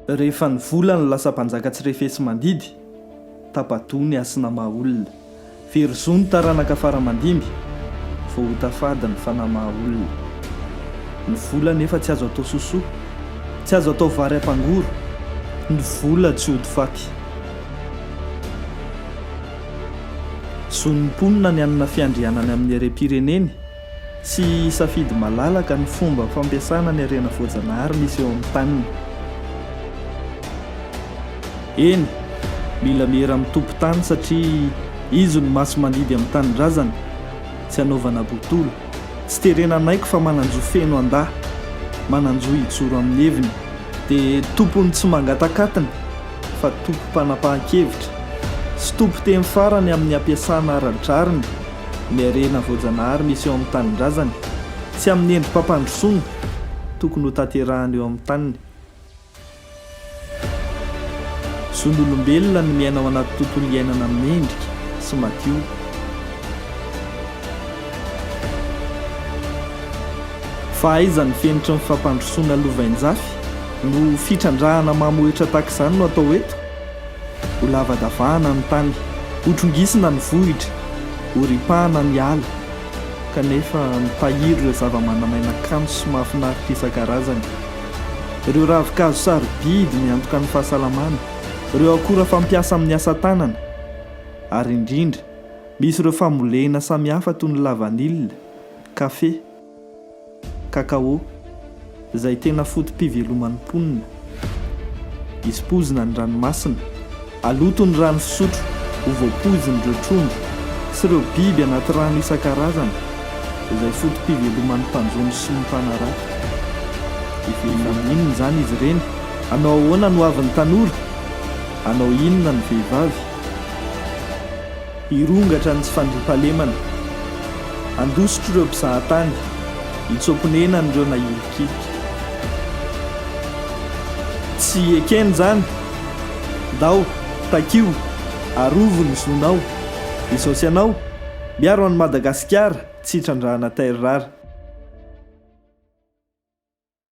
Rehefa ny volany lasa mpanjaka tsy refesi-mandidy, tapa-doha ny hasina maha-olona. Very zo ny taranaka fara aman-dimby, vao ho tafady ny fanahy maha-olona. Ny vola anefa tsy azo atao sosoa, tsy azo atao vary ampangoro. Ny vola tsy ody faty. Zon'ny mponina ny hanana fiandrianany amin'ny harem-pireneny. Tsy hisafidy malalaka ny fomba fampiasana ny harena voajanahary misy eo amin'ny taniny. Eny, mila miera amin'ny tompon-tany satria izy no masi-mandidy amin'ny tanindrazany, tsy hanaovana botolo. Tsy terena hanaiky fa manan-jo feno handà, manan-jo hijoro amin'ny heviny. Dia tompony tsy mangatak'atiny fa tompom-panapahan-kevitra sy tompon-teny farany amin'ny hampiasana ara-drariny. ny harena voajanahary misy eo amin'ny tanindrazany tsy amin'ny endri-pampandrosoana tokony ho tanterahany eo amin'ny taniny. Zon'olombelona ny miaina ao anaty tontolo iainana mendrika sy madio. Fa aiza ny fenitry ny fampandrosoana lovainjafy no fitrandrahana mamohetra tahaka izany no atao eto? Ho lavadavahana ny tany, ho trongisina ny vohitra, ho ripahana ny ala, kanefa mitahiry ireo zava-manan'aina kanto sy mahafinaritra isan-karazany. Ireo ravin-kazo sarobidy miantoka ny fahasalamana, ireo akora fampiasa amin'ny asa tanana, ary indrindra, misy ireo fambolena samihafa toy ny lavanila, kafe, Cacao, izay tena foto-piveloman'ny mponina. Ispoizina ny ranomasina. Aloto ny rano fisotro ho voapoizin'ireo trondro sy ireo biby anaty rano isan-karazany izay foto-piveloman'ny mpanjono sy ny mpanarato. Hivelona amin'ny inona izany izy ireny? Hanao ahoana ny hoavin'ny tanora? Hanao inona ny vehivavy? Hirongatra ny tsy fandriampahalemana. Handosotr'ireo mpizahatany. Hitsoa-ponenan'ireo nahilikilika. Tsy ekeny izany. Ndao, takio, arovo ny zonao. Izao sy ianao, miaro an'i Madagasikara tsy hitrandrahana terrara.